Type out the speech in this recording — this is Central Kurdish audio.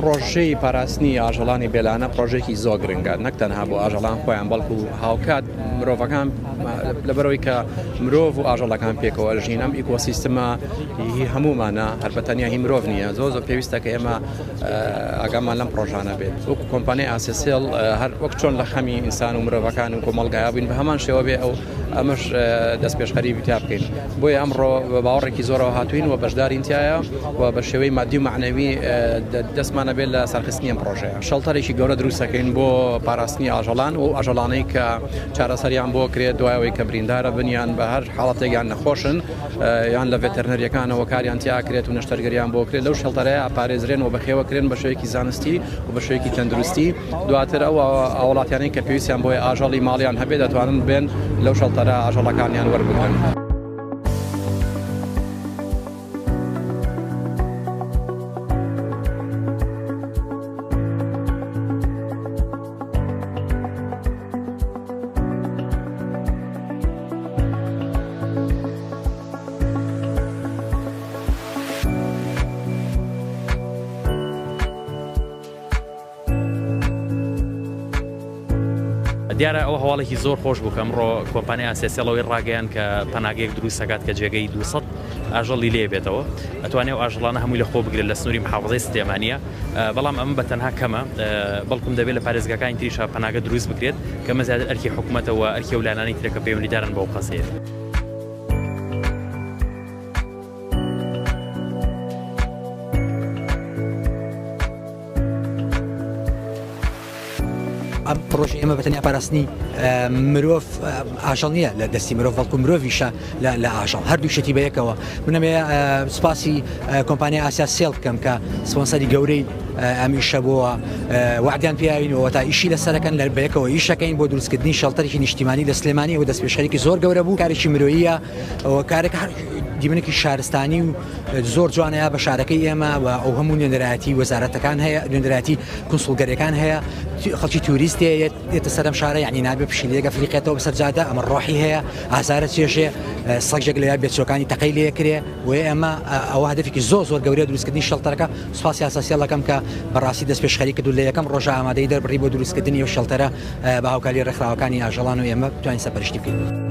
پرۆژەی پاراستنی ئاژەڵانی بێلانە پرۆژێکی زۆ گرنگە نەک تەنها بۆ ئاژەڵان خۆیان بەڵکو هاوکات مرۆڤەکان لەبەرەوەی کە مرۆڤ و ئاژەڵەکان پێکەوە ژین ئەم ئیکۆسیستمە هی هەمومانە هەربەتەنیا هی مرۆڤ نیە زۆ زۆ پێویستە کە ئێمە ئاگامان لەم پڕۆژانە بێت وەکو کۆمپانیای ئاسێسێڵ هەر وەک چۆن لە خەمی ئینسان و مرۆڤەکان و کۆمەڵگایا بووین بە هەمان شێوە بێ ئەو ئەمەش دەست پێشخەری بتا بکەین بۆیە ئەمڕۆ بە باوەڕێکی زۆرەوە هاتوین و بەشدارین تایە و بە شێوەی مادی و معنەوی دەستمانە بێت لە سەرخستنی ئەم پرۆژەیە شەڵتەرێکی گەورە دروستەکەین بۆ پاراستنی ئاژەڵان و ئاژەڵانەی کە چارەسەریان بۆ کرێت دوایەوەی کە بریندارە بنیان بە هەر حاڵەتێکیان نەخۆشن یان لە ڤێتەرنەرییەکانەوە کاریان تیا کرێت و نەشتەرگەریان بۆ کرێت لەو شەڵتەرەیە ئاپارێزرێن و بەخێوە کرێن بە شێوەیەکی زانستی و بە شێوەیەکی تەندروستی دواتر ئەو هاوڵاتیانەی کە پێویستیان بۆی ئاژەڵی ماڵیان هەبێ دەتوانن بێن لەو شەڵتەرە ئاژەڵەکانیان وەربگرن. دیارە ئەو هەواڵێکی زۆر خۆش بوو کە ئەمڕۆ کۆمپانیا ئاسێسیڵەوەی ڕاگەیان کە پەناگەیەک دروستەکات کە جێگەی 200 ئاژەڵی لێ بێتەوە ئەتوانێت ئاژڵانە هەمووی لە خۆ بگرێت لە سنووری محافظی سلێمانە بەڵام ئەمە بە تەنها کەمە، بەڵکم دەبێت لە پارێزگاکانی تریشا پەناگە دروست بکرێت، کە ئەمە زیاتر ئەرکی حکومەتە و ئەرکی ئەو لایەنانەی ترە کە پەیوەندیدارن بەو قەزیەیە. ئەم پرۆژی ئێمە بەتەنیا پاراستنی مرۆڤ ئاژەڵ نییە لە دەستی مرۆڤ بەڵکو مرۆڤیشە لە ئاژەڵ هەردوو شتی بە یەکەوە منەمێ سوپاسی کۆمپانیا ئاسیا سێڵ بکەم کە سپۆنسەری گەورەی ئەمیشە بووە وعدیان پیاوینەوە تا ئیشی لە سەرەکەن لە بەیەکەوە ئیشەکەین بۆ دروستکردنی شەڵتەرێکی نیشتیمانی لە سلێمانی و دەست پێشخەرێکی زۆر گەورە بوو کارێکی مرۆیە کارێک دیمنێکی شارستانی و زۆر جوانە یا بە شارەکەی ئێمە و ئەو هەموو نوێنەرایەتی وەزارەتەکان هەیە نوێنەرایەتی کنسڵگەرەکان هەیە خەڵکی توریست دێتە سەرم شارە یعنی نابێ پشیلێگە فلیقێتەوە بەسەر جادە ئەمە ڕۆحی هەیە ئازارە چێژێ سەگێک لە بێچەکانی تەقی لێ کرێ و ئێمە ئەوە هەدفێکی زۆر زۆر گەورە دروستکردنی شەڵتەرەکە سوپاس یاساسیەڵەکەم کە بەڕاستی دەست پێشخەری کردو لە یەکەم ڕۆژە ئامادەی دەربڕی بۆ دروستکردنی و شەڵتەرە بە هاوکاری ڕێکخراوەکانی ئاژەڵان و ئێمە توانین سەپەرشتی بکەین.